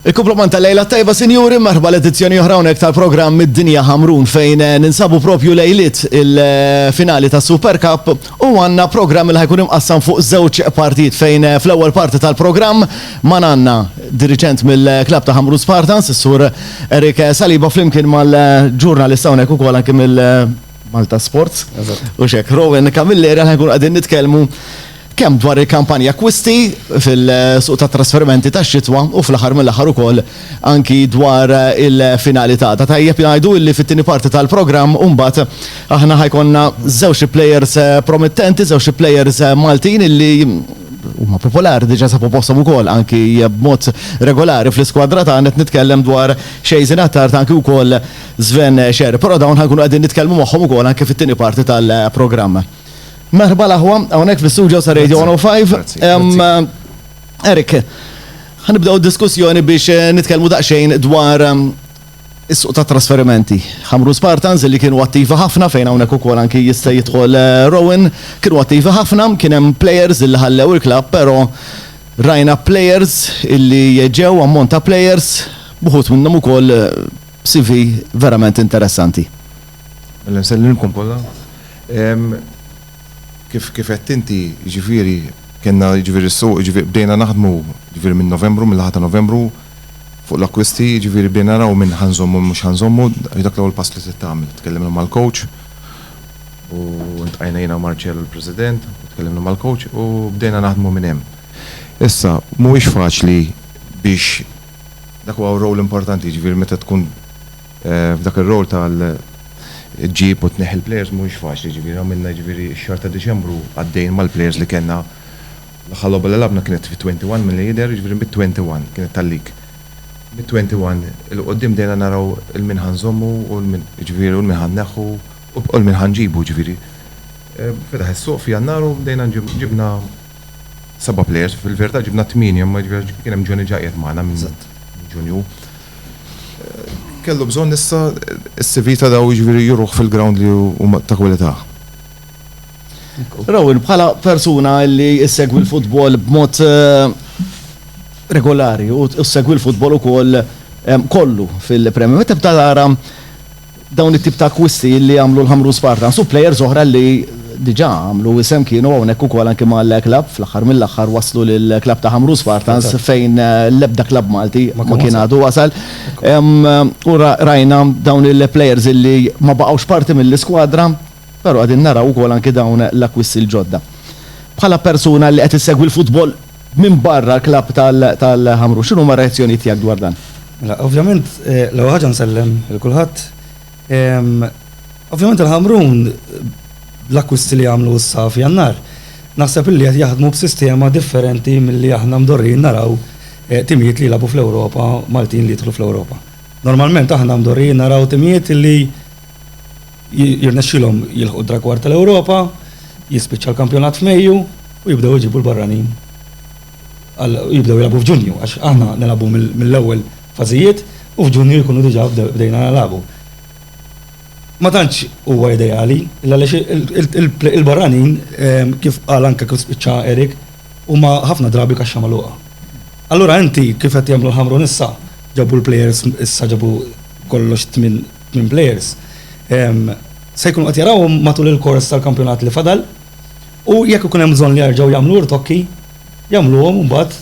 Il-kumplament ta' lejla t-tajba sinjuri, merħba l-edizzjoni oħra hawnhekk tal-programm Id-Dinja Ħamrun fejn ninsabu propju lejliet il-finali tas-Super Cup u għandna programm li ħa jkun imqassam fuq żewġ partijiet fejn fl-ewwel parti tal-programm man għandna diriġent mill-klabb ta' Ħamrun Spartans, is-Sur Eric Saliba flimkien mal-ġurnalista hawnhekk ukoll anki mill Malta Sports. U xek, Rowan Camilleri għan ħajkun għadin nitkelmu kemm dwar il-kampanja kwisti fil-suq ta' trasferimenti ta' xitwa u fl-aħħar mill-aħħar ukoll anki dwar il-finali ta' ta' tajjeb jgħidu illi fit-tieni parti tal-programm mbagħad aħna ħajkonna żewġ players eh, promettenti, żewġ players eh, Maltin illi huma popolari diġa sabu postom ukoll anki b'mod regolari fl-iskwadra tagħna qed nitkellem dwar Xejzin Attard anki wkoll Sven Scher, però dawn ħankunu qegħdin nitkellmu magħhom ukoll anke fit-tieni parti tal-programm. Merħba l-aħwa, hawnhekk fl-istudio sa Radio 105. Erik, ħanibdew diskussjoni biex eh, nitkellmu daqsxejn dwar ehm, is-suq ta' trasferimenti. Ħamru Spartans li kienu attivi ħafna fejn hawnhekk ukoll anki jista' jidħol eh, Rowan, kienu attivi ħafna, kien hemm players li ħallew il-klabb, però rajna players illi ġew ammont ta' players, buħut minnhom ukoll eh, CV verament interessanti. Mela nsellilmkom kollha. Kif kif għedt inti, jiġifieri kellna jiġifieri s-suq, jiġifieri bdejna naħdmu jiġifieri minn Novembru, mill-aħħar ta' Novembru fuq l-akkwisti, jiġifieri bdejna naraw min ħa nżommu min mhux ħa nżommu, hi dak l-ewwel pass li trid tagħmel. Tkellimna mal-coach u ltqajna jiena u Marcel u l-President u tkellimna mal-coach u bdejna naħdmu minn hemm. Issa, mhuwiex faċli biex Dak huwa role importanti, jiġifieri meta tkun f'dak ir-role tal ġġib u tneħħi l-players mhuwiex faċli, jiġifieri għamilna jiġifieri x-xahar ta' Diċembru għaddejjin mal-players li kellna. L-aħħar logħba li lagħbna kienet fit-twenty one milli jidher, jiġifieri mit-twenty one kienet tal-league. Mit-twenty one 'il quddiem bdejna naraw 'il min ħa nżommu u 'l min, jiġifieri u 'l min ħa nneħħu u 'l min ħa nġibu, jiġifieri fetaħ is-suq f'Jannar u bdejna ġibna seba' players, fil-verità ġibna tmienja, imma kien hemm Johnny Ġaqjat magħna minn Ġunju. Kellu bżonn issa s-CV ta' dawn jiġifieri juruh fil-ground li huma ta' kwalità. Rowan, bħala persuna li ssegwi l-futbol b'mod regolari u ssegwi l-futbol ukoll kollu fil-Premier, meta tibda tara Dawn it-tip ta' akkwisti li għamlu l-Ħamrun Spartans u plejers oħra li diġà għamlu isem kienu hawnhekk ukoll anki mal-klabb, fl-aħħar mill-aħħar wasslu lill-klabb ta' Ħamrun Spartans fejn l-ebda klabb Malti ma kien għadu wasal. U rajna dawn il-plejers li ma baqgħux parti mill-iskwadra, però qegħdin naraw ukoll anki dawn l-akkwisti l-ġodda. Bħala persuna li qed issegwi l-futbol, Minbarra l-klabb tal-Ħamrun, x'inhuma r-reazzjonijiet tiegħek dwar dan? Mela, ovvjament, l-ewwel ħaġa nsellem lil kulħadd. Ovvjament il-Ħamrun bl-akkwisti li għamlu issa f'Jannar, naħseb illi qed jaħdmu b'sistema differenti milli aħna mdorrijin naraw timijiet li jilagħbu fl-Ewropa, Maltin li jidħlu fl-Ewropa. Normalment aħna mdorrijin naraw timijiet illi Jirnexxilhom jilħqu d-dragward tal-Ewropa, jispiċċa l-kampjonat f'Mejju u jibdew iġibu l-barranin għal jibdew jilagħbu f'Ġunju għax aħna nilagħbu mill-ewwel fażijiet u f'Ġunju jkunu diġà bdejna nilagħbu. Ma tantx huwa ideali għaliex il-barranin kif qal anke kif spiċċa Eric huma ħafna drabi kaxxa magħluqa. Allura inti kif qed jagħmlu l-Ħamrun issa ġabu l-plejers issa ġabu kollox tmien Tmien plejers se jkunu qed jarawhom matul il-kors tal-kampjonat li fadal u jekk ikun hemm bżonn li jerġgħu jagħmlu rtokki, jagħmluhom imbagħad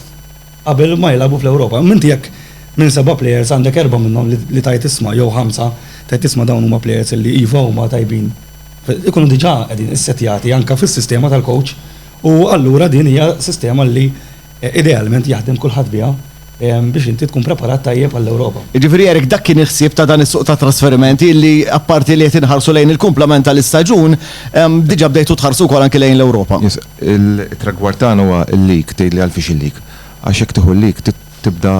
qabel ma jilagħbu fl-Ewropa. Imma inti jekk minn seba' plejers għandek erbgħa minnhom li tgħid isma' jew ħamsa tgħid isma' dawn huma plejers li iva huma tajbin, ikunu diġà qegħdin issettjati anke fis-sistema tal-kowċ u allura din hija sistema li Idealment jaħdem kulħadd biha biex inti tkun preparat tajjeb għall-Ewropa. Jiġifieri Eric dak kien il-ħsieb ta' dan is-suq ta' trasferimenti illi apparti li qed inħarsu lejn il-kumplament tal-istaġun, diġà bdejtu tħarsu wkoll anki lejn l-Ewropa. Yes. Il-tragward tagħna huwa l-league, tgħidli għalfiex il-league. Għax jekk tieħu l-league trid tibda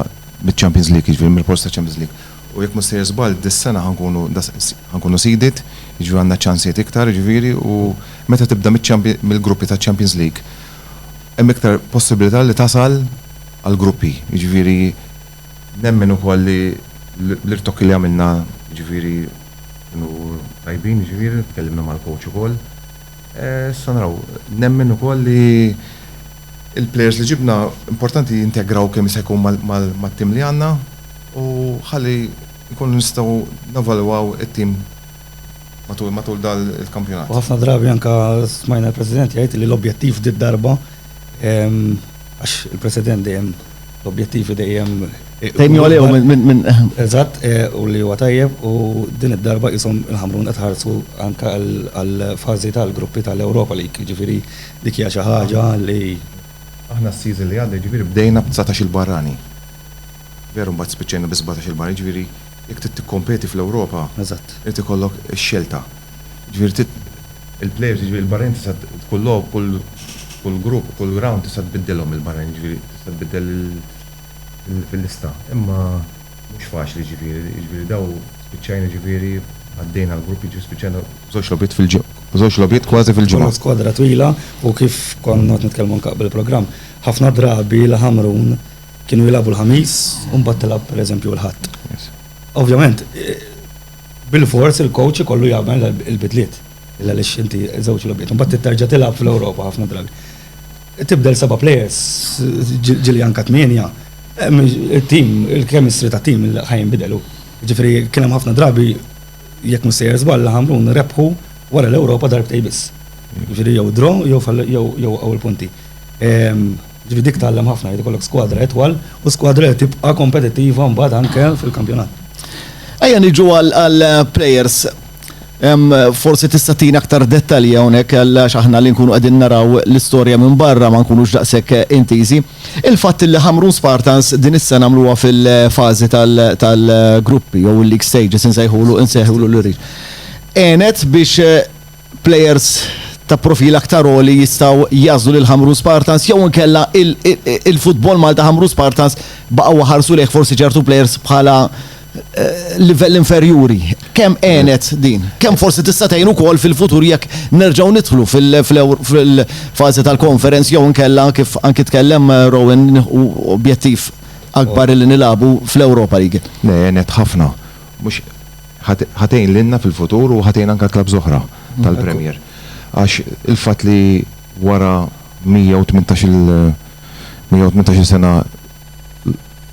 biċ-Champions League, jiġifieri mill-post taċ-Champions League. U jekk mhux sejjer żball dis-sena ħa nkunu ħa nkunu seeded, jiġifieri għandna ċansijiet iktar jiġifieri u meta tibda mill-gruppi taċ-Champions League, hemm iktar possibilità li tasal għall-gruppi. Jiġifieri nemmen ukoll li l-irtokki li għamilna jiġifieri kienu tajbin jiġifieri, tkellimna mal-coach ukoll. Issa naraw, nemmen ukoll li l-players li ġibna importanti jintegraw kemm jista' jkun mat-tim li għandna u ħalli nkunu nistgħu nevalwaw it-tim matul dan il-kampjonat. U ħafna drabi anke smajna l-President jgħid li l-objettiv did-darba, għax il-President dejjem l-objettivi dejjem. Dejjem jgħollew minn. Eżatt, u li huwa tajjeb, u din id-darba qishom il-Ħamrun qed iħarsu anke għall-fażi tal-gruppi tal-Europa League, jiġifieri dik hija xi ħaġa li. Aħna s-season li għadda jiġifieri bdejna b'19-il barrani. Veru mbagħad spiċċajna bi sbatax il-bar, jiġifieri jekk trid tikkompeti fl-Ewropa. Eżatt. Irid ikollok ix-xelta. Jiġifieri trid il-plejers, jiġifieri il-barranin tista' kull logħob, kull kull grupp, kull rawnd tista' tbiddilhom il-barranin, jiġifieri tista' tbiddel lil fil fil-lista. Imma mhux faċli jiġifieri, jiġifieri daw spiċċajna jiġifieri għaddejna l-grupp, jiġifieri spiċċajna b'żewġ logħbiet fil b'żewġ logħbiet kważi fil-ġimgħa. Konna skwadra twila u kif kont noqgħod nitkellmu anke qabel il-programm, ħafna drabi l-Ħamrun, Kienu jilagħbu l-Ħamis u mbagħad tilgħab pereżempju l-Ħadd. Ovvjament, bil-fors il-coach ikollu jagħmel il-bidliet għaliex inti żewġ logħbiet. Mbagħad terġa' tilgħab fl-Ewropa ħafna drabi. Tibdel seba' players, ġieli anke tmienja, it-tim, il-chemistry tat-tim ħa jinbidel hu. Ġifieri kien hemm ħafna drabi jekk mhux sejjer żball Ħamrun rebħu wara l-Ewropa darbtejn biss. Ġifieri jew draw jew jew ewwel punti. Jiġifieri dik tgħallem ħafna, irid ikollok skwadra itwal u skwadra li tibqa' kompetittiva mbagħad anke fil-kampjonat. Ejja niġu għall-plejers. Forsi tista' tini aktar dettalji hawnhekk għax aħna li nkunu qegħdin naraw l-istorja minn barra ma nkunux daqshekk intiżi. Il-fatt li Ħamrun Spartans din is-sena għamluha fil-fażi tal-gruppi jew il-league stages insejħulu insejħulu l-iriex. Għenet biex Plejers ta' profil aktar għoli jistgħu jagħżlu lil Ħamrun Spartans jew inkella il-futbol Malta Ħamrun Spartans baqgħu ħarsu lejh forsi ċertu plejers bħala livell inferjuri. Kemm għenet din? Kemm forsi tista' tgħin ukoll fil-futur jekk nerġgħu nidħlu fil-fażi tal-Conference jew inkella kif anki tkellem Rowan nieħu objettiv akbar li nilagħbu fl-Europa League? Le, għenet ħafna. Mhux ħa tgħin lilna fil-futur u ħa tgħin anke clubs oħra tal-Premier. Għax il-fatt li wara 118-il 118-il sena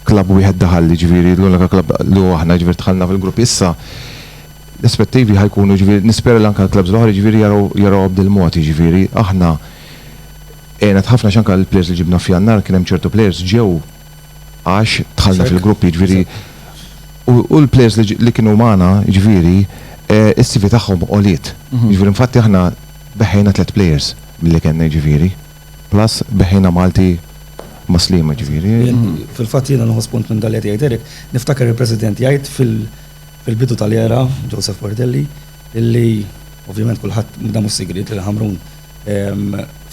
club wieħed daħal, jiġifieri l-unika club li hu aħna, jiġifieri dħalna fil-grupp issa, l-aspettivi ħa jkunu jiġifieri nispera li anke l-clubs l-oħra jiġifieri jaraw jarawha b'dil-mod, jiġifieri aħna għenna ħafna għax anke l-players li ġibna f'Jannar kien hemm ċertu players ġew għax dħalna fil-grupp jiġifieri u l-players li kienu magħna jiġifieri s-CV tagħhom għoliet. Jiġifieri infatti aħna beħħejna tliet players milli kellna jiġifieri. Plus beħħejna Malti ma' Sliema jiġifieri. Fil-fatt jiena nieħu spunt minn dak li qed jgħid Eric, niftakar il-President jgħid fil-bidu tal-era, Joseph Portelli, illi ovvjament kulħadd, dan mhux sigriet, li Ħamrun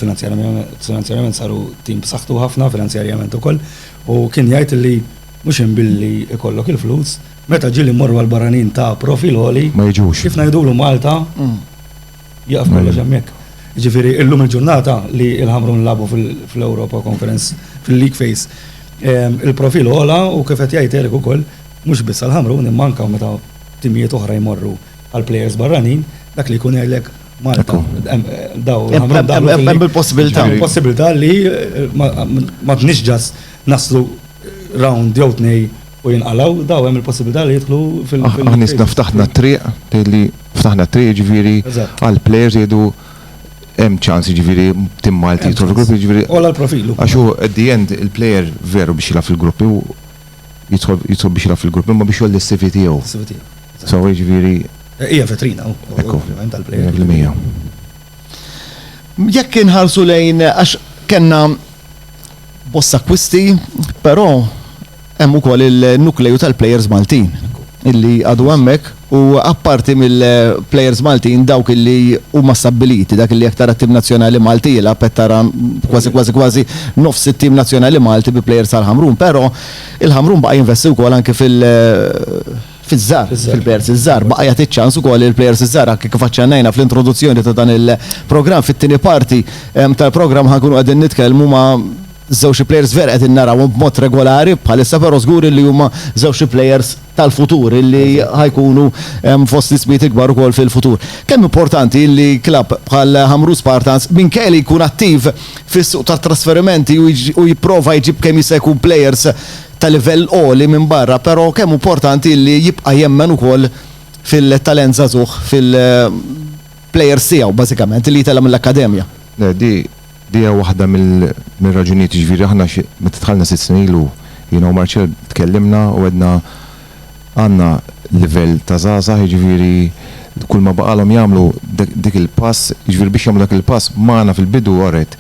Finanzjarjament saru tim b'saħħtu ħafna finanzjarjament ukoll u kien jgħid li mhux hemm billi jkollok il-flus, meta ġieli mmorru għal barranin ta' profil għoli, kif ngħidulu Malta, jieqaf kollox hemmhekk. Jiġifieri illum il-ġurnata li l-Ħamrun lagħbu fl-Europa Conference, fil-League Phase, il-profil għola u kif qed jgħid Eric ukoll, mhux biss għall-Ħamrun imma anke meta timijiet oħra jmorru għal plejers barranin, dak li jkun għelek Malta. Daw, hemm il-possibilità. Il-possibilità li eh, ma tnix ġas naslu round jew tnej u jinqalaw, daw hemm il-possibilità li jidħlu fil- ah, Aħna nisna ftaħna triq li ftaħna triq ġifieri għal plejers jgħidu hemm ċans ġifieri tim Malti jidħlu fil-gruppi ġifieri. Ola l-profilu. Għax hu at the end il-plejer veru biex jilgħab fil-gruppi jidħol biex jilgħab fil-gruppi ma biex jolli s-CV tiegħu. So jiġifieri. Hija vetrina u. Ekku. Tal-plejja. Jekk inħarsu lejn għax kellna bosta kwisti, però hemm ukoll il-nukleju tal-plejers Maltin illi għadu hemmhekk u apparti mill-plejers Maltin dawk illi huma stabbiliti dak illi jekk tara tim nazzjonali Malti jilgħab qed tara kważi kważi kważi nofs it-tim nazzjonali Malti bi plejers tal-Ħamrun, però il-Ħamrun baqa' jinvesti wkoll anke fil- fiż-żgħar, fil-plejers iż-żgħar, baqa' jagħti ċ-ċans ukoll lill-plejers iż-żgħar anke kif aċċennajna fl-introduzzjoni ta' dan il-programm. Fit-tieni parti tal-programm ħa nkunu qegħdin nitkellmu ma' żewġ il-plejers vera qegħdin narawhom b'mod regolari bħalissa però żgur illi huma żewġ il-plejers tal-futur illi ħa jkunu fost l-ismijiet il-kbar ukoll fil-futur. Kemm importanti illi klabb bħal Ħamrun Spartans minkejja li jkun attiv fis-suq tat-trasferimenti u jipprova jġib kemm jista' jkun plejers ta' livell għoli minn barra, però kemm hu mportanti illi jibqa' jemmen ukoll fil-talent żagħżugħ fil plejers tiegħu bażikament illi jitella' mill-akkademja. Le, di, di hija waħda mill, mir-raġunijiet, jiġifieri aħna xi, meta dħalna sitt snin ilu, jiena u Marcel tkellimna u għedna għandna livell ta' żgħażagħ, jiġifieri kull ma baqagħlhom jagħmlu dik il-pass, jiġifieri biex jagħmlu dak il-pass magħna fil-bidu, alright,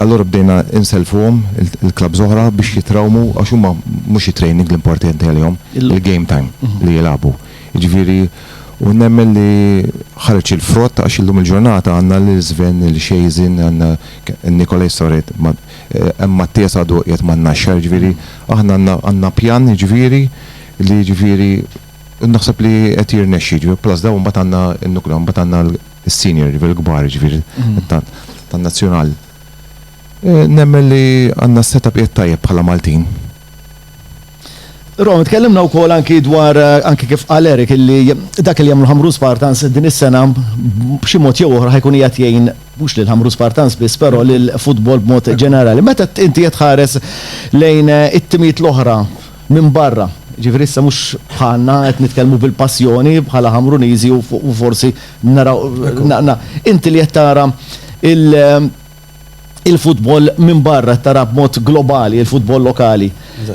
Allura bdejna nsellfuhom il-klabbs oħra biex jitrawmu għax huma mhux it-training l-importanti għalihom, il-game time li jilagħbu. Jiġifieri u nemmen li ħareġ il-frott għax illum il-ġurnata għandna lil Sven, lil Xejżin, għandna Nikolaj Soret, hemm Mattias għadu qiegħed man-Naxxar, jiġifieri aħna għandna għandna pjan jiġifieri li jiġifieri naħseb li qed jirnexxi jiġifieri plus dawn imbagħad għandna n-nucleo imbagħad għandna is-senior jiġifieri l-kbar jiġifieri tan-nazzjonal. Nemmen li għandna s-set-up qiegħed tajjeb bħala Maltin. Rom, tkellimna wkoll anki dwar anki kif qal Eric illi dak li jagħmlu Ħamrun Spartans din is-sena b'xi mod jew oħra ħa jkun qiegħed jgħin mhux lil Ħamrun Spartans biss però lill-futbol b'mod ġenerali. Meta inti qed tħares lejn it-timijiet l-oħra minbarra, jiġifieri issa mhux bħalna qed nitkellmu bil-passjoni bħala Ħamruniżi u forsi naraw, inti li qed tara l-futbol minbarra, qed tara b'mod globali l-futbol lokali,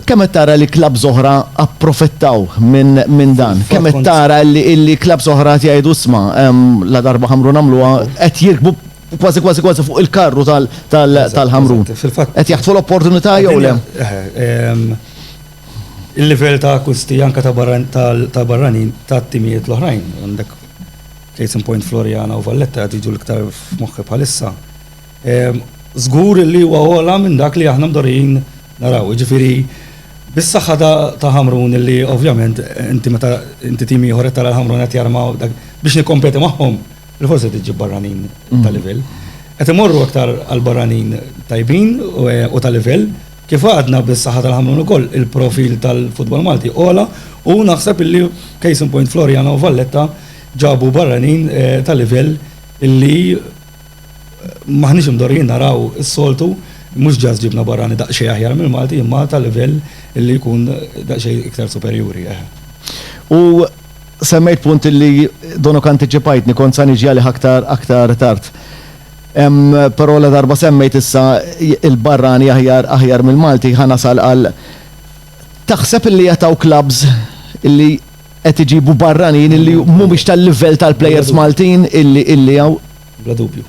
kemm qed tara li klabbs oħra approfittaw minn dan? Kemm qed tara li klabbs oħra qed jgħidu isma' ladarba Ħamrun għamluha qed jirkbu Kważi kważi kważi fuq il-karru tal-Ħamrun. Qed jaħtfu l-opportunità jew le? Il-livell ta' akkusti anke ta' barranin tat-timijiet l-oħrajn. Għandek case in point Floriana u Valletta qed jiġu l-iktar f'moħħi bħalissa. Żgur li huwa ogħla minn dak li aħna mdorrijin naraw. Jiġifieri bis-saħħa ta' Ħamrun li ovvjament inti meta inti tim ieħor qed tara l-Ħamrun qed jarmaw biex nikkompeti magħhom. Il-ħoss qed iġib barranin ta' livell. Qed imorru aktar għal barranin tajbin u ta' livell. Kif għadna bis-saħħa tal-Ħamrun ukoll il-profil tal-futbol Malti għola u naħseb illi case in point Floriana u Valletta ġabu barranin ta' livell illi m'aħniex imdorrijin naraw is-soltu, mhux just ġibna barrani daqsxejn aħjar mill-Malti imma ta' livell illi jkun daqsxejn iktar superjuri. U Semmejt punt li donok antiċipajtni, kont sa niġi għalih aktar aktar tard. Hemm però ladarba semmejt issa il-barrani aħjar aħjar mill-Malti ħa nasal għal taħseb illi qed hawn klabbs illi qed iġibu barranin illi mhumiex tal-livell tal-plejers Maltin illi illi hawn? Bla dubju.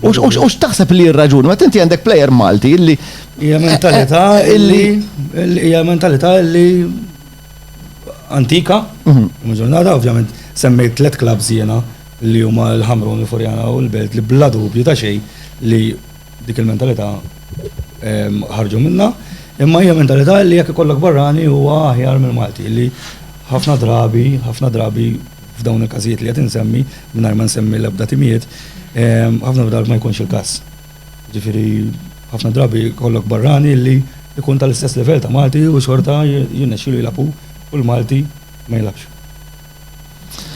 U u x'taħseb illi hi r-raġuni? Meta inti għandek plejer Malti illi Hija mentalità illi hija mentalità illi antika, u ġurnata, ovvjament, semmejt tlet klabs jiena li huma l-Ħamrun, il-Furjana u l-Belt li bla dubju ta' xejn li dik il-mentalità ehm, ħarġu minna, imma hija mentalità li jekk ikollok barrani huwa aħjar mill-Malti li ħafna drabi, ħafna drabi f'dawn il-każijiet li qed insemmi mingħajr ma nsemmi l-ebda timijiet, ehm, ħafna drabi ma jkunx il-każ. Jiġifieri ħafna drabi jkollok barrani li jkun tal-istess livell ta' Malti u xorta jirnexxilu jilgħab hu u l-Malti ma jilgħabx.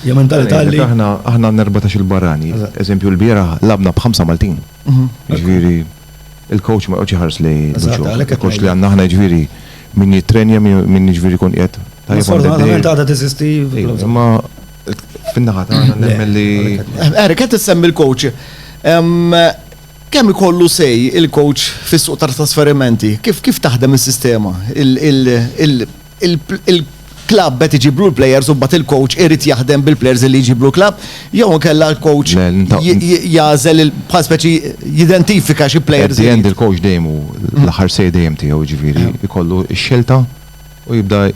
Hija mentalità li. Aħna għandna erbatax-il barrani. Eżempju l-bieraħ lagħabna b'ħamsa Maltin. Jiġifieri il-coach ma joqgħodx iħares lejn il-biċċa. Il-coach li għandna aħna jiġifieri min jittrenja, min jiġifieri jkun qiegħed. Sfortunatament għadha teżisti. Imma. Fin-naħa tagħna nemmen li. Erik, qed issemmi l-coach. Kemm ikollu sej il-coach fis-suq ta' trasferimenti? Kif kif taħdem is-sistema? Il-klabb qed iġiblu l-plejers u mbagħad il-coach irid jaħdem bil-plejers li jġiblu l-klabb jew inkella l-coach jagħżel bħal speċi jidentifika xi plejers. Jien il-coach dejjem hu l-aħħar sej dejjem tiegħu ġifieri jkollu x-xelta u jibda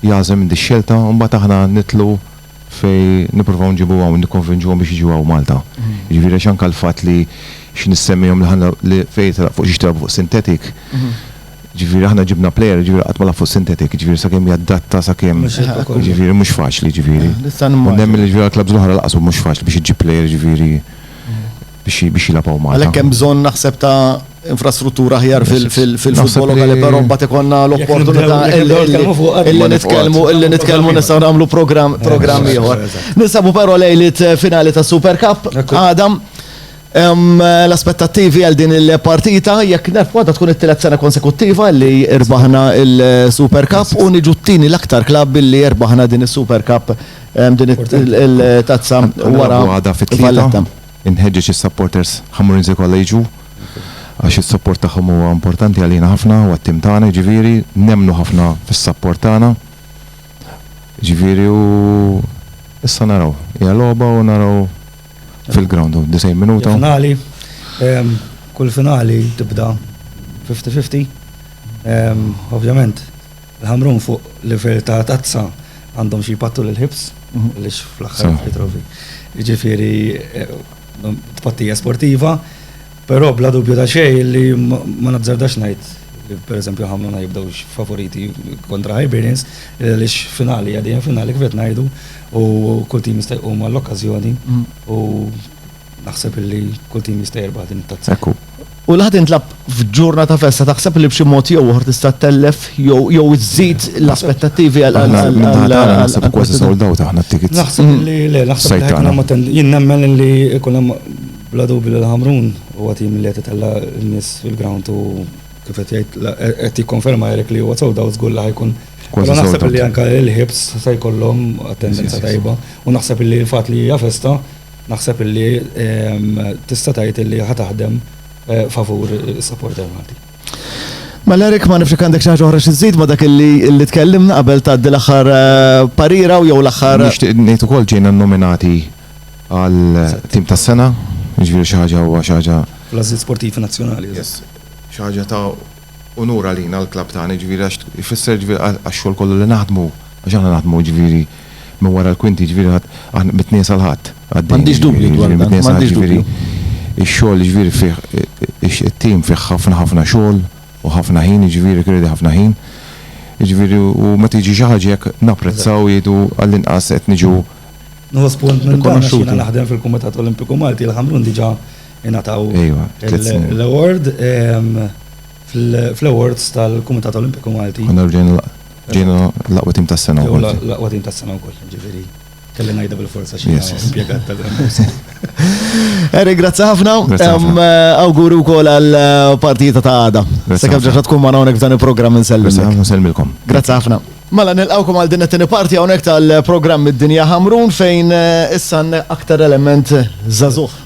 jagħżem minn dix-xelta u mbagħad aħna nidħlu fejn nippruvaw nġibu hawn nikkonvinġuhom biex jiġu hawn Malta. Jiġifieri għax anke l-fatt li xi nissemmihom li ħa li fejn jitilgħab fuq xiex tilgħabu fuq sintetik, jiġifieri aħna ġibna plejer jiġifieri qatt ma lagħab fuq sintetik, jiġifieri sakemm jaddatta sakemm jiġifieri mhux faċli jiġifieri. U nemmen li jiġifieri għall-klabbs l-oħra lanqas hu mhux faċli biex iġġib plejer jiġifieri. biex jilgħab hawn Malta. Għalhekk hemm bżonn naħseb ta' infrastruttura aħjar fil-futbol lokali, però mbagħad ikollna l-opportunità illi nitkellmu illi nitkellmu nistgħu nagħmlu programm ieħor. Ninsabu però lejliet finali ta' Super Cup għadha. L-aspettattivi għal din il-partita jekk nerfwa ta' tkun it-tielet sena konsekuttiva li rbaħna il-Super Cup u niġu t-tieni l-aktar klabb billi rbaħna din is-Super Cup din it-tazza wara fit-tlieta. Inħeġġeġ is-supporters Ħammurinsi kollha jiġu għax is-support tagħhom huwa importanti għalina ħafna u għat-tim tagħna, jiġifieri nemmnu ħafna fis-support tagħna. Jiġifieri u issa naraw. Hija logħba u naraw fil-ground u d-90 minuta. Hija finali. Kull finali tibda fifty fifty. Ovvjament. Il-Ħamrun fuq livell ta' tazza għandhom xi jpattu lill-ħibs għaliex fl-aħħar li trovi. Jiġifieri tpattija sportiva, però bla dubju ta' xejn li ma nazzardax ngħid li pereżempju Ħamrun ħa jibdewx favoriti kontra Hibernians għaliex finali hija dejjem finali kif qed ngħidu u kull tim jista' jqum għall-okkażjoni u Naħseb illi kull tim jista' jirbaħ din it-tazza. Hekk hu. U li ħa tintlagħab f'ġurna ta' festa taħseb li b'xi mod jew ieħor tista' tellef jew iżżid l-aspettattivi għal. Aħna min-naħa tagħna naħseb kważi sold out aħna t-tickets. Naħseb li le, naħseb li ħajkun hemm attendanza. Jien nemmen illi jkun hemm bla dubju li l-Ħamrun huwa tim li qed itella' n-nies fil-ground u kif qed jgħid qed jikkonferma Eric li huwa sold out żgur li ħajkun. Kważi sold out. Però naħseb illi anke l-Hibs se jkollhom attendanza tajba u naħseb illi l-fatt li hija festa. Naħseb illi tista' tgħid illi ħa taħdem favur is-supporter Malti. Mela Eric, ma nafx jekk għandek xi ħaġa oħra xi żżid ma' dak illi tkellimna qabel tgħaddi l-aħħar parira u jew l-aħħar. Nixtieq ngħid ukoll ġejna nnominati għal tim tas-sena, jiġifieri xi ħaġa huwa xi ħaġa. Fl-Għażliet Sportivi Nazzjonali. Yes. Xi ħaġa ta' unur għalina l-klabb tagħna jiġifieri għax ifisser jiġifieri għax-xogħol kollu li naħdmu għax aħna naħdmu jiġifieri minn wara l-kwinti jiġifieri aħna mit-Tnejn sal-Ħadd għaddejjin jiġifieri jiġifieri mit-Tnejn sal-Ħadd jiġifieri x-xogħol jiġifieri fih it-tim fih ħafna ħafna xogħol u ħafna ħin jiġifieri jikkredi ħafna ħin jiġifieri u meta jiġi xi ħaġa hekk napprezzaw jgħidu għall-inqas qed niġu rikonoxxuti. Nħu spunt minn dan għax jiena naħdem fil-Kumitat Olimpiku Malti l-Ħamrun diġà ingħataw l-award fl-awards tal-Kumitat Olimpiku Malti. Għandna ġejna l-aqwa tim tas-sena wkoll. L-aqwa tim tas-sena wkoll, ġifieri. Kelli ngħidha bil-forza xi impjegat tal-Grammarcy. Eric, grazzi ħafna. Awguri wkoll għall-partita ta' għada. Sakemm ġaġa tkun magħna hawnhekk f'dan il-programm insellmilkom. Grazzi ħafna, nsellmilkom. Grazzi ħafna. Mela nilqgħukom għal din it-tieni parti hawnhekk tal-programm Id-Dinja Ħamrun fejn issa għandna aktar element żagħżugħ.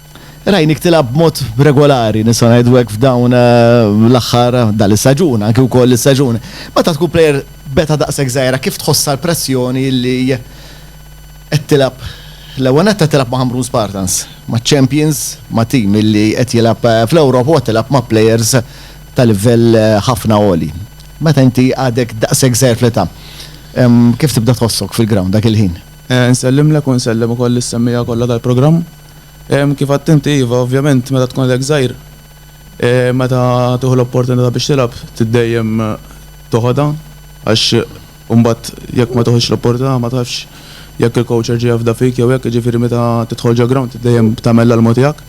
Rajnik tilgħab b'mod regolari, nista' ngħidu hekk f'dawn l-aħħar dan is-saġun, anki wkoll is-saġun. Meta tkun plejer b'età daqshekk żgħira kif tħossha l-pressjoni li qed tilgħab l-ewwel nett qed tilgħab ma' Ħamrun Spartans, maċ-champions, ma' tim li qed jilgħab fl-Ewropa u qed tilgħab ma' plejers ta' livell ħafna għoli. Meta inti għadek daqshekk żgħir fl-età, kif tibda tħossok fil-ground dak il-ħin? Nsellimlek u nsellem ukoll lis-semmiegħa kollha tal-programm. Kif għedt inti, iva, ovvjament meta tkun għadek żgħir, meta tieħu l-opportunità biex tilgħab trid dejjem toħodha għax imbagħad jekk ma tiħux l-opportunità ma tafx jekk il-coach jerġa' jafda fik jew hekk, jiġifieri meta tidħol ġol-ground trid dejjem tagħmel l-almu tiegħek.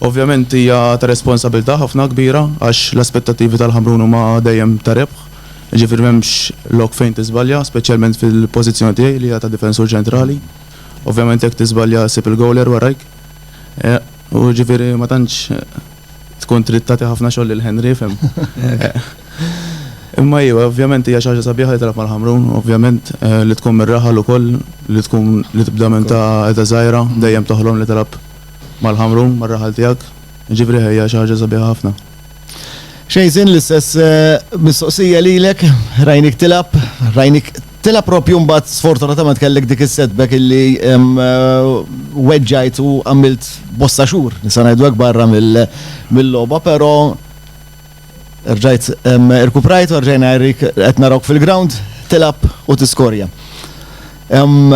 Ovvjament hija ta' responsabilità ħafna kbira għax l-aspettattivi tal-Ħamrun huma dejjem ta' rebħ, jiġifieri m'hemmx lok fejn tiżbalja, speċjalment fil-pożizzjoni tiegħi li hija ta' difensur ċentrali. Ovvjament jekk tiżbalja ssib il-gowler warajk. U ġifieri ma tantx tkun trid tagħti ħafna xogħol lil Henry, fhem? Imma iva, ovvjament hija xi ħaġa sabiħa li tilgħab mal-Ħamrun, ovvjament li tkun mir-raħal ukoll, li tkun li tibda minn ta' età żgħira, dejjem toħlom li tilgħab mal-Ħamrun, mar-raħal tiegħek. Jiġifieri hija xi ħaġa sabiħa ħafna. Xejzin l-istess mistoqsija lilek, rajnik tilab, rajnik tilab propju mbagħad sfortunatament kellek dik is-setback illi weġġajt u għamilt bosta xhur, nisa ngħidu hekk barra mill-logħba, però rġajt irkuprajt u rġajna qed narawk fil-ground tilab u tiskorja. Hemm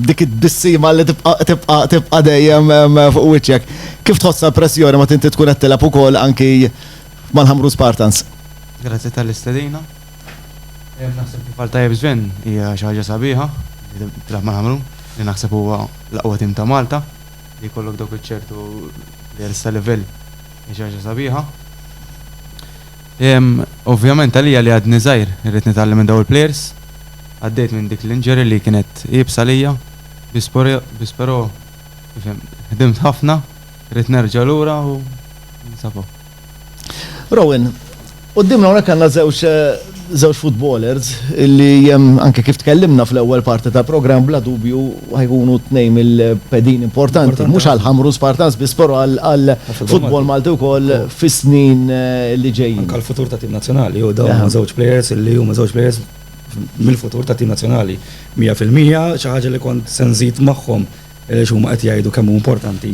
dik it-tbissima li tibqa' tibqa' tibqa' dejjem fuq wiċċek. Kif tħossha l-pressjoni meta inti tkun qed tilgħab ukoll anki mal-Ħamrun Spartans? Grazzi tal-istedina. Naħseb kif qal tajjeb Sven, hija xi ħaġa sabiħa li tilgħab mal-Ħamrun, li naħseb huwa l-aqwa tim ta' Malta. Li jkollok dawk iċ-ċertu players ta' livell hija xi ħaġa sabiħa. Ovvjament għalija li għadni żgħir irrid nitgħallem minn dawn il-players. Għaddejt minn dik l-injury li kienet iebsa għalija, biss però tifhem, ħdimt ħafna, rrid nerġa' lura u ninsab hawn. Rowan, quddiemna hawnhekk għandna żewġ żewġ footballers li anke kif tkellimna fl-ewwel parti tal-programm bla dubju ħajkunu tnejn mill-pedin importanti, mhux għal Ħamrun Spartans biss però għall-football Malti wkoll fis-snin li ġejjin. Anke għall-futur tat-tim nazzjonali u dawn huma żewġ players li huma żewġ players mill-futur tat-tim nazzjonali 100%, xi ħaġa li kont se nżid magħhom għaliex huma qed jgħidu kemm hu importanti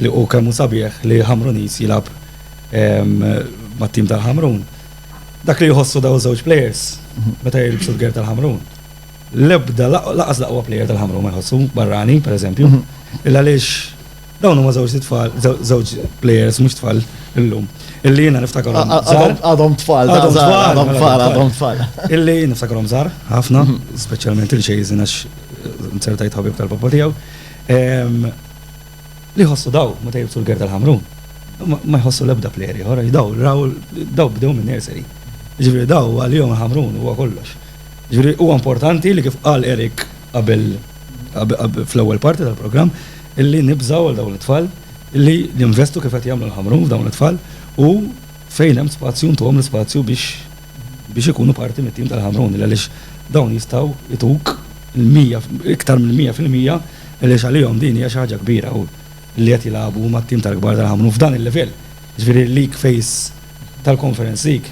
li u kemm hu sabiħ li Ħamruniż jilgħab mat-tim tal-Ħamrun. Dak li jħossu dawn iż-żewġ plejers meta jilbsu l-gerd tal-Ħamrun. L-ebda, lanqas l-aqwa plejer tal-Ħamrun ma jħossu, barrani, pereżempju, illa għaliex Dawn huma żewġ tfal, żewġ players mhux tfal illum. Illi jiena niftakarhom. Għadhom tfal, għadhom tfal, għadhom tfal, għadhom tfal. Illi niftakarhom żgħar, ħafna, mhm. speċjalment il xejżin għax nsertajt ħabib tal-papa tiegħu. Li ħossu daw, meta jibsu l-ger tal-ħamru, ma jħossu l-ebda player ieħor, daw raw daw bdew minn nursery. Ġifieri daw għalihom ħamrun huwa kollox. Ġifieri huwa importanti li kif qal Erik qabel fl-ewwel parti tal-programm illi nibżgħu għal dawn it-tfal illi jinvestu kif qed jagħmlu l-ħamrun f'dawn it-tfal u fejn hemm spazju ntuhom l-ispazju biex biex ikunu parti mit-tim tal-ħamrun għaliex dawn jistgħu ituk iktar minn 100% għaliex għalihom din hija xi ħaġa kbira u li qed jilagħbu mat-tim tal-kbar tal-ħamrun f'dan il-livell. Ġifieri l-league phase tal-Conference League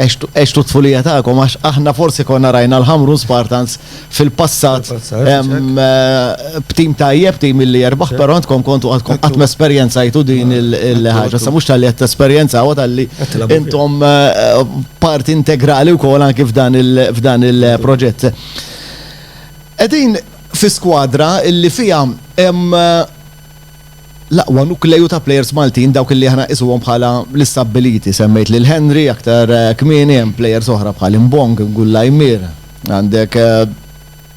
Għextu għextu t-tfulija tagħkom għax aħna forsi konna rajna l-Ħamrun Spartans fil-passat b'tim tajjeb, tim li jerbaħ, però intkom kontu għadkom qatt mesperjenzajtu din il-ħaġa. Sa mhux tal-li qed tesperjenzaw tal-li intom parti integrali wkoll anki f'dan il-proġett. Qegħdin fi skwadra li fiha hemm l-aqwa nukleju ta' plejers Maltin dawk illi aħna nqisuhom bħala l-istabbiliti. Semmejt lil Henry aktar kmieni, hemm plejers oħra bħal Imbong, Gullaymir, għandek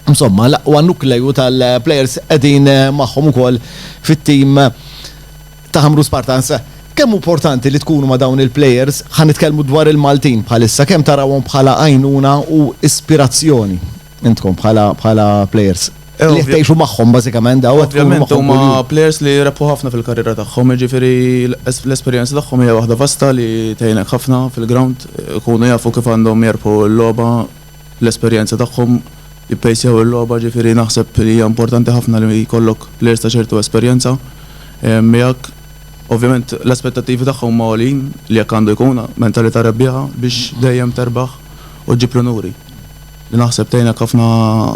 insomma l-aqwa nukleju tal-plejers qegħdin magħhom ukoll fit-tim ta' Ħamrun Spartans. Kemm hu importanti li tkunu ma' dawn il-plejers, ħa nitkellmu dwar il-Maltin bħalissa, kemm tarawhom bħala għajnuna u ispirazzjoni? Intkom bħala bħala players li tgħixu magħhom bażikament daw qed tkunu magħhom. Ovvjament huma players li rebħu ħafna fil-karriera tagħhom, jiġifieri l-esperjenza tagħhom hija waħda vasta li tgħinek ħafna fil-ground, ikunu jafu kif għandhom jerbħu l-logħba, l-esperjenza tagħhom, jippejsjaw il-logħba, jiġifieri naħseb li hija importanti ħafna li jkollok players ta' ċertu esperjenza miegħek. Ovvjament l-aspettattivi tagħhom huma għoljin li hekk għandu jkun, mentalità rebbieħa biex dejjem terbaħ u ġġib l-unuri. li naħseb tgħinek ħafna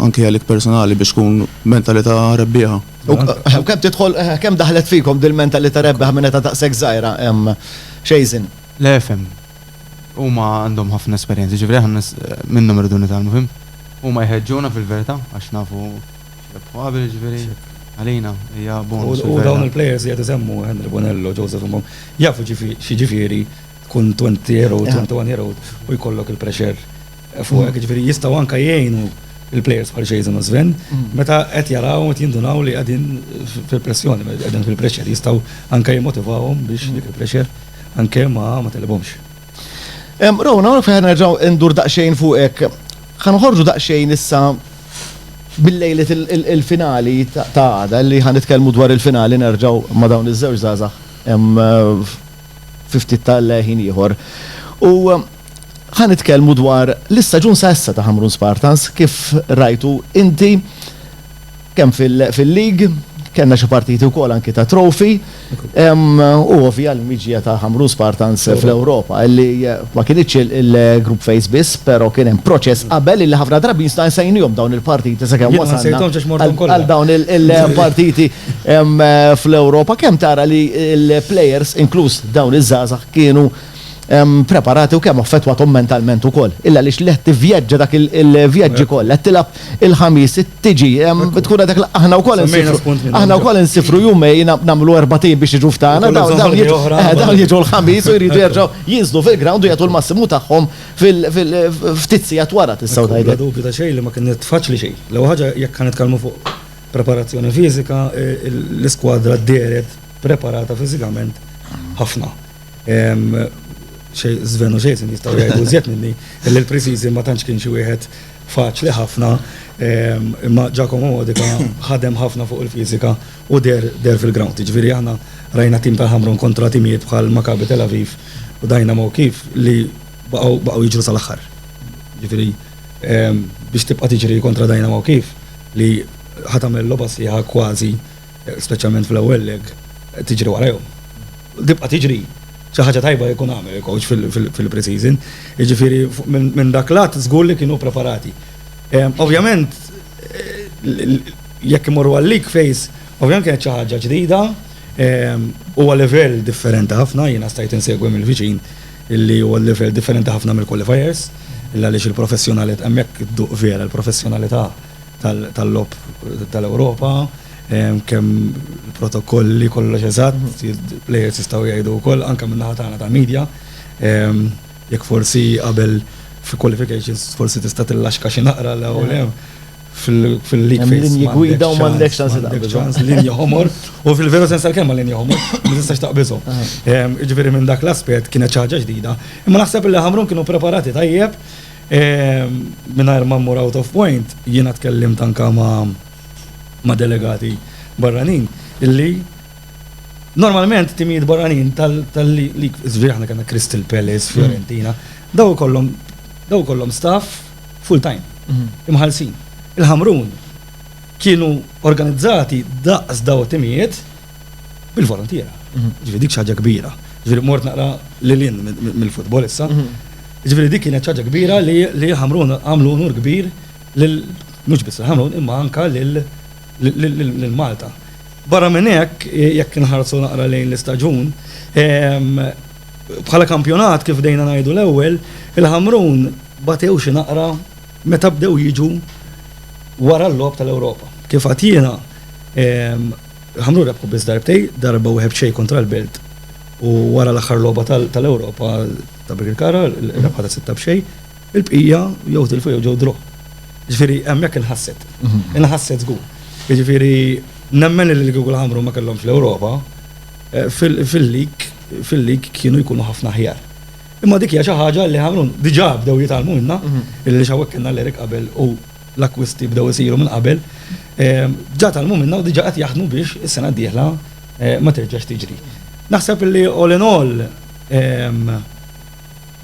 anki għalik personali biex tkun mentalità rebbieħa. U kemm tidħol, kemm daħlet fikom dil-mentalità rebbieħa minn età daqshekk żgħira, Xejżin? Le fhem, huma għandhom ħafna esperjenza, jiġifieri aħna minnhom irridu nitgħallmu, fhimt? Huma jħeġġuna fil-verità għax nafu x'rebħu qabel, jiġifieri għalina hija bonus fil-verità. U dawn il-plejers li qed isemmu, Henry Bonello, Joseph Mbom, jafu x'jiġifieri tkun twenty year old, twenty one year old u jkollok il-pressure. fuq hekk, jiġifieri jistgħu anke jgħinu l-plejers bħal Jason u Sven meta qed jaraw qed jindunaw li qegħdin fil-pressjoni, qegħdin fil-pressure, jistgħu anke jimmotivawhom biex dik il-pressure anke ma telibhomx. Rowan, hawnhekk fejn nerġgħu indur daqsxejn fuqek. Ħa noħorġu daqsxejn issa bil-lejliet il-finali ta' għada li ħa nitkellmu dwar il-finali nerġgħu ma' dawn iż-żewġ żgħażagħ fi ftit tal-ħin ieħor. U Ħa nitkellmu dwar l-istaġun sa issa ta' Ħamrun Spartans, kif rajtu inti kemm fil-League, kellna xi partiti wkoll anki ta' Trophy, u ovvja l-miġja ta' Ħamrun Spartans fl-Ewropa, li ma kinitx il-group phase biss, però kien hemm proċess qabel li ħafna drabi jistna nsejnihom dawn il-partiti sakemm wasalna għal dawn il-partiti fl-Ewropa. Kemm tara li l-players, inkluż dawn iż-żgħażagħ, kienu preparati u kemm affettwathom mentalment ukoll. Illa għaliex li qed tivvjaġġa dak il-vjaġġi kollha, qed tilgħab il-Ħamis, tiġi, tkun għadek aħna wkoll insifru. Aħna wkoll insifru jumejn nagħmlu erbatejn biex jiġu f'tagħna, dawn jiġu l-Ħamis u jridu jerġgħu jinżlu fil-ground u jagħtu l-massimu tagħhom ftit sigħat wara tistgħu tgħidu. Bla dubju ta' xejn li ma kienet faċli xejn. L-ewwel ħaġa jekk ħa nitkellmu fuq preparazzjoni fiżika, l-iskwadra dehret preparata fiżikament ħafna. Sven u Jason jistaw jgħidu zjed minni, li l-preseason ma tantx kien xi wieħed faċli ħafna, imma Giacomo Modica ħadem ħafna fuq il-fiżika u deher deher fil-ground. Jiġifieri aħna rajna tim tal-Ħamrun kontra timijiet bħal Maccabi Tel Aviv u Dynamo Kyiv li baqgħu baqgħu jiġru sal-aħħar. Jiġifieri biex tibqa' tiġri kontra Dynamo Kyiv li ħa tagħmel logħba sħiħa kważi speċjalment fl-ewwel leg, tiġri warajhom. Tibqa' tiġri. Xi ħaġa tajba jkun għamel il-coach fil-pre-season. Jiġifieri minn dak l-att żgur li kienu preparati. Ovvjament jekk imorru għal-league phase, ovvjament kienet xi ħaġa ġdida, huwa livell differenti ħafna, jiena stajt insegwi mill-viċin li huwa livell differenti ħafna mill-qualifiers, għaliex il-professjonalità hemmhekk idduq vera l-professjonalità tal-logħob tal-Ewropa, kemm protokolli kollox eżatt, il-players jistgħu jgħidu wkoll anke min-naħa tagħna ta' media, jekk forsi qabel fi qualifications forsi tista' tillaxka xi naqra l hawn hemm fil-league phase. Linji gwida u m'għandekx ċans li taqbiżhom. Linji ħomor, u fil-veru sens tal-kelma linji ħomor, ma tistax taqbiżhom. Jiġifieri minn dak l-aspett kienet xi ħaġa ġdida. Imma naħseb li Ħamrun kienu preparati tajjeb, Mingħajr ma mmur out of point, jiena tkellimt anke ma' delegati barranin illi normalment timijiet barranin tal-league, jiġifieri aħna kellna Crystal Palace, Fiorentina, dawn ikollhom dawn ikollhom staff full time, imħallsin. Il-Ħamrun kienu organizzati daqs dawn it-timijiet, bil-volontiera. Ġifieri dik xi ħaġa kbira. Ġifieri mort naqra lil hinn mill-futbol issa. Ġifieri dik kienet xi ħaġa kbira li Ħamrun għamlu unur kbir lil mhux biss lil Ħamrun imma anke lil Malta. Barra minn hekk, jekk inħarsu naqra lejn l-istaġun, bħala kampjonat kif bdejna ngħidu l-ewwel, il-Ħamrun batew xi naqra meta bdew jiġu wara l-logħob tal-Ewropa. Kif għedt jiena, Ħamrun rebħu biss darbtej, darba wieħed b'xejn kontra l-Belt u wara l-aħħar logħba tal-Ewropa ta' Birkirkara, rebħa ta' sitta b'xejn, il-bqija jew tilfu jew ġew draw. Ġifieri hemmhekk inħasset. Mhm. Inħasset żgur. Ġifieri nemmen li l-Google Ħamrun ma kellhomx l-Ewropa eh, fil-lik fil-lik kienu jkunu ħafna ħjar. Imma dik hija xi ħaġa li ħamrun diġà bdew jitalmu minna, mhm. illi xawek kellna l-Erik qabel u l-akkwisti bdew isiru minn qabel, ġa tgħallmu minnha u diġà qed jaħdmu biex is-sena d-dieħla ma terġax tiġri. Naħseb li all in all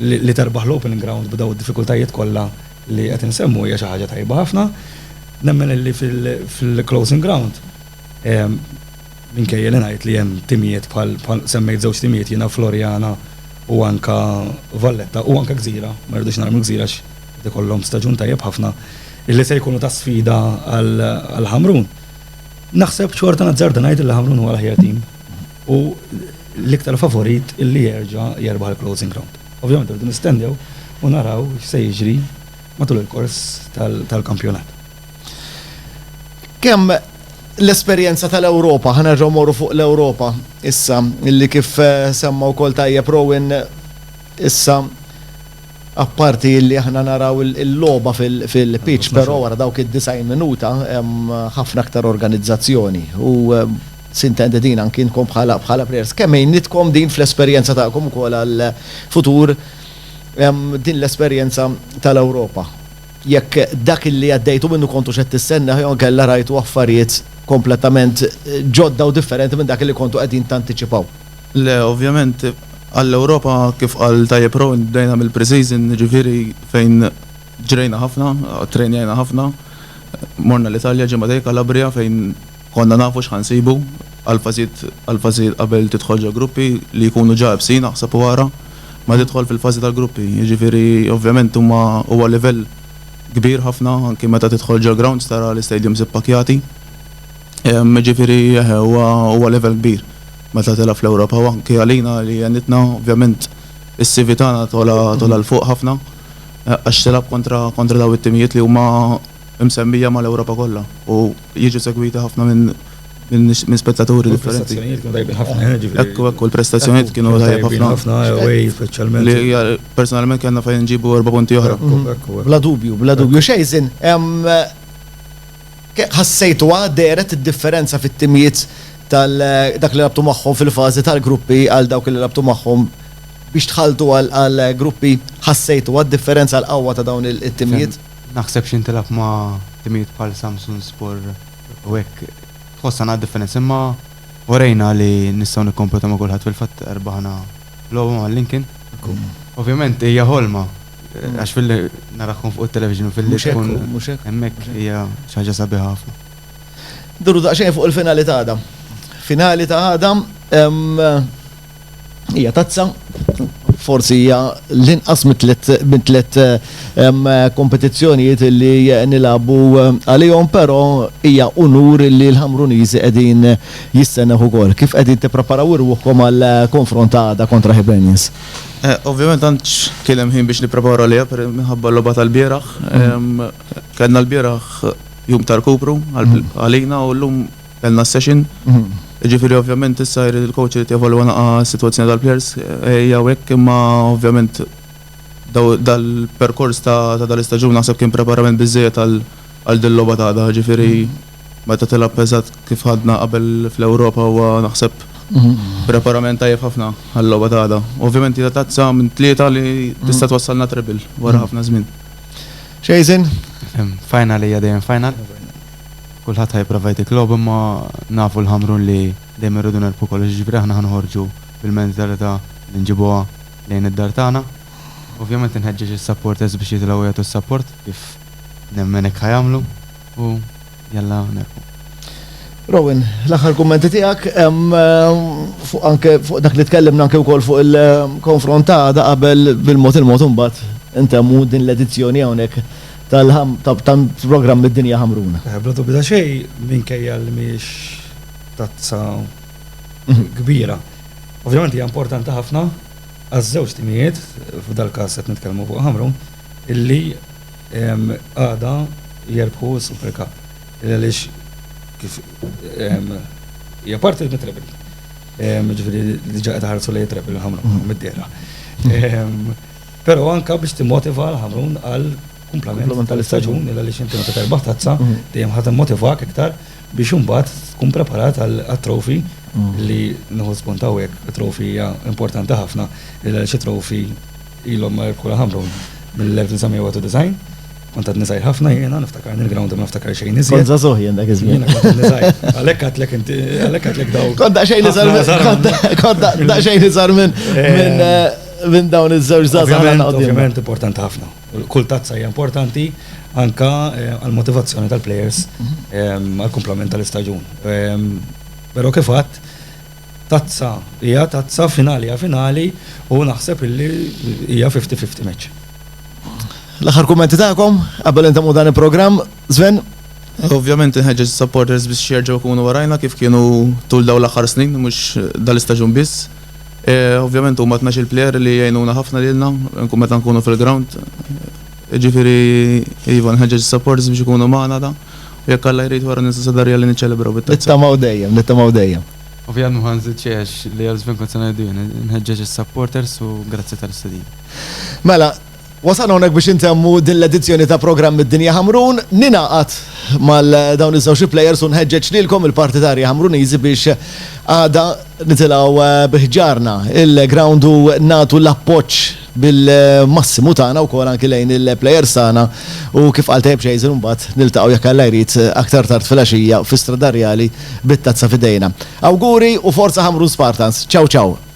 li terbaħ l-Opening Ground b'dawn id-diffikultajiet kollha li qed insemmu hija xi ħaġa tajba ħafna. Nemmen li fil-Closing Ground Minkejja li ngħid li hemm timijiet bħal, semmejt żewġ timijiet jiena, Floriana u anke Valletta u anke Gżira, ma rridux narmu l-Gżira għax qed ikollhom staġun tajjeb ħafna, illi se jkunu ta' sfida għal Ħamrun. Naħseb xorta nazzarda ngħid illi Ħamrun huwa l-aħjar tim u l-iktar favorit illi jerġa' jerbaħ il-Closing Ground. Ovvjament irridu nistennew u naraw x'se jiġri matul il-kors tal-kampjonat. Kemm l-esperjenza tal-Ewropa, ħanerġgħu morru fuq l-Ewropa issa, illi kif eh, semma wkoll tajjeb Rowan issa apparti li aħna naraw il-loba fil-pitch, però wara dawk id-design minuta hemm ħafna aktar organizzazzjoni. U eh, sintendi din anki inkom bħala bħala players. Kemm għinitkom din fl-esperjenza tagħkom ukoll għal futur din l-esperjenza tal-Ewropa. jekk dak li għaddejtu minnu kontux qed tistennah jew inkella rajtu affarijiet kompletament ġodda u differenti minn dak li kontu qegħdin tantiċipaw. Le, ovvjament, għall-Ewropa, kif qal tajjeb Rowan, bdejna mill-pre-season, jiġifieri fejn ġrejna ħafna, ttrejnjajna ħafna, morna l-Italja, ġimgħa dei, Calabria, fejn Konna nafu x'ħa nsibu, għall-fażijiet għall-fażijiet qabel tidħol ġo gruppi li jkunu ġa ebsin aħseb u ara ma tidħol fil-fażi tal-gruppi. Jiġifieri ovvjament huma huwa livell kbir ħafna anki meta tidħol ġo grounds tara l-istadiums ippakjati. Jiġifieri eħe huwa huwa livell kbir meta tilgħab fl-Ewropa u anki għalina li għenitna ovvjament is-CV tagħna togħla togħla 'l fuq ħafna għax tilgħab kontra kontra dawn it-timijiet li huma imsemmija mal-Ewropa kollha u jiġu segwiti ħafna minn spettaturi differenti. Hekk u hekk u l-prestazzjonijiet kienu tajjeb ħafna. Li personalment kellna fejn inġibu erba' punti oħra. Bla dubju, bla dubju. Xejn, ħassejtuha dehret id-differenza fit-timijiet tal dak li lagħbtu magħhom fil-fażi tal-gruppi għal dawk li lagħbtu magħhom biex dħaltu għall-gruppi, ħassejtuha d-differenza l-qawwa ta' dawn it-timijiet? Naħseb xi ntilgħab ma' timijiet bħal Samsunspor u hekk tħossha naqra differenza imma urejna li nistgħu nikkompetaw ma' kulħadd fil-fatt rbaħna logħba ma' Lincoln. Ovvjament hija ħolma għax filli narakhom fuq it-television u filli tkun hemmhekk hija xi ħaġa sabiħa ħafna. Nduru daqsxejn fuq il-finali ta' għada. Finali ta' għada. Hija tazza, forsi hija l-inqas mit-tliet kompetizzjonijiet li nilagħbu għalihom, però hija unur li l-Ħamruniżi qegħdin jistennewh ukoll. Kif qegħdin tippreparaw irwuħkom għall-konfront ta' għada kontra Hibernians? Ovvjament ma tantx kien hemm ħin biex nippreparaw għaliha minħabba l-logħba tal-bieraħ. Kellna l-bieraħ jum ta' rkupru għalina u llum Kellna s-session, jiġifieri ovvjament issa jrid il-coach irid jevalwa naqa' s-sitwazzjoni tal-players hija u hekk imma ovvjament dal-perkors ta' dal-istaġun naħseb kien preparament biżżejjed għal dil-logħba ta' għada, jiġifieri meta tilgħab eżatt kif ħadna qabel fl-Ewropa huwa naħseb preparament tajjeb ħafna għal-logħba ta' għada. Ovvjament hija tazza minn tlieta li tista' twassalna treble wara ħafna żmien. Jason? Final hija dejjem final. Kulħadd ħa jipprova jtik logħob imma nafu l-Ħamrun li dejjem irridu nerbħu kollox jiġifieri aħna ħa noħorġu bil-mentalità li nġibuha lejn id-dar tagħna. Ovvjament inħeġġeġ is-supporters biex jitilgħu jagħtu s-support kif nemmen hekk ħa jagħmlu u jalla nerbħu. Rowan, l-aħħar kummenti tiegħek fuq anke fuq dak li tkellimna anke wkoll fuq il-konfront ta' għada qabel bil-mod il-mod imbagħad intemmu din l-edizzjoni hawnhekk tal-programm mid-dinja ħamruna. Bla dubju ta' xejn, minkejja li mhijiex tazza kbira. Ovvjament hija importanti ħafna għaż-żewġ timijiet, f'dal-każ qed nitkellmu fuq Ħamrun, illi għada jerbħu s-Super Cup. Għaliex kif hija parti mit-treble. Jiġifieri diġà qed iħarsu lejn it-treble Ħamrun mid-dehra. Però anke biex timmotiva lil Ħamrun għal kumplament tal-istaġun il għaliex inti meta terbaħ tazza dejjem ħa timmotivak iktar biex imbagħad tkun preparat għat-trophy li nieħu spunt hawnhekk it-trophy hija importanti ħafna il għaliex it-trophy ilhom ma jirbħulha Ħamrun mill-1991 Kont għadni żgħir ħafna jiena, niftakar il-ground ma niftakar xejn iżjed. Kont żagħżugħ jien dak iż-żmien. Jiena kont għadni żgħir. Għalhekk għadlek inti, għalhekk għadlek daw. Kont daqsxejn iżgħar minn. Kont daqsxejn iżgħar minn eh. eh, minn dawn iż-żewġ żgħażagħ għandna quddiem. Ovvjament importanti ħafna. Kull tazza hija importanti anka eh, għall-motivazzjoni tal-players mhm. eh, għall-kumplament tal-istaġun. Eh, però kif għadd tazza hija tazza finali hija finali u naħseb illi hija 50-50 match. L-aħħar kummenti tagħkom qabel intemmu dan il-programm, Sven? Ovvjament nħeġġeġ supporters biex jerġgħu jkunu warajna kif kienu tul daw l-aħħar snin, mhux dal-istaġun biss. Ovvjament huma tnax-il plejer li jgħinuna ħafna lilna nkun meta nkunu fil-ground. Ġifieri iva nħeġġeġ is-supporters biex ikunu magħna da. U jekk Alla jrid wara ninsa Sadarja li niċċelebraw bit-tazza. Nittamaw dejjem, nittamaw dejjem. Ovvjament ma nżid xejn għax li għal żmien kont se ngħidu jien. Inħeġġeġ is-supporters u grazzi tal-istedina. Mela. Wasalna hawnhekk biex intemmu din l-edizzjoni ta' programm Id-Dinja Ħamrun. Ningħaqad mal dawn iż-żewġ plejers u nħeġġeġ lilkom il-partitarji Ħamruniżi biex għada nitilgħu bi ħġarna il-ground u nagħtu l-appoġġ bil-massimu tagħna wkoll anki lejn il-plejers tagħna u kif qal tajjeb Xejsen imbagħad niltaqgħu jekk Alla jrid aktar tard filgħaxija fi Strada Rjali bit-tazza f'idejna. Awguri u forza Ħamrun Spartans. Ċaw ċaw.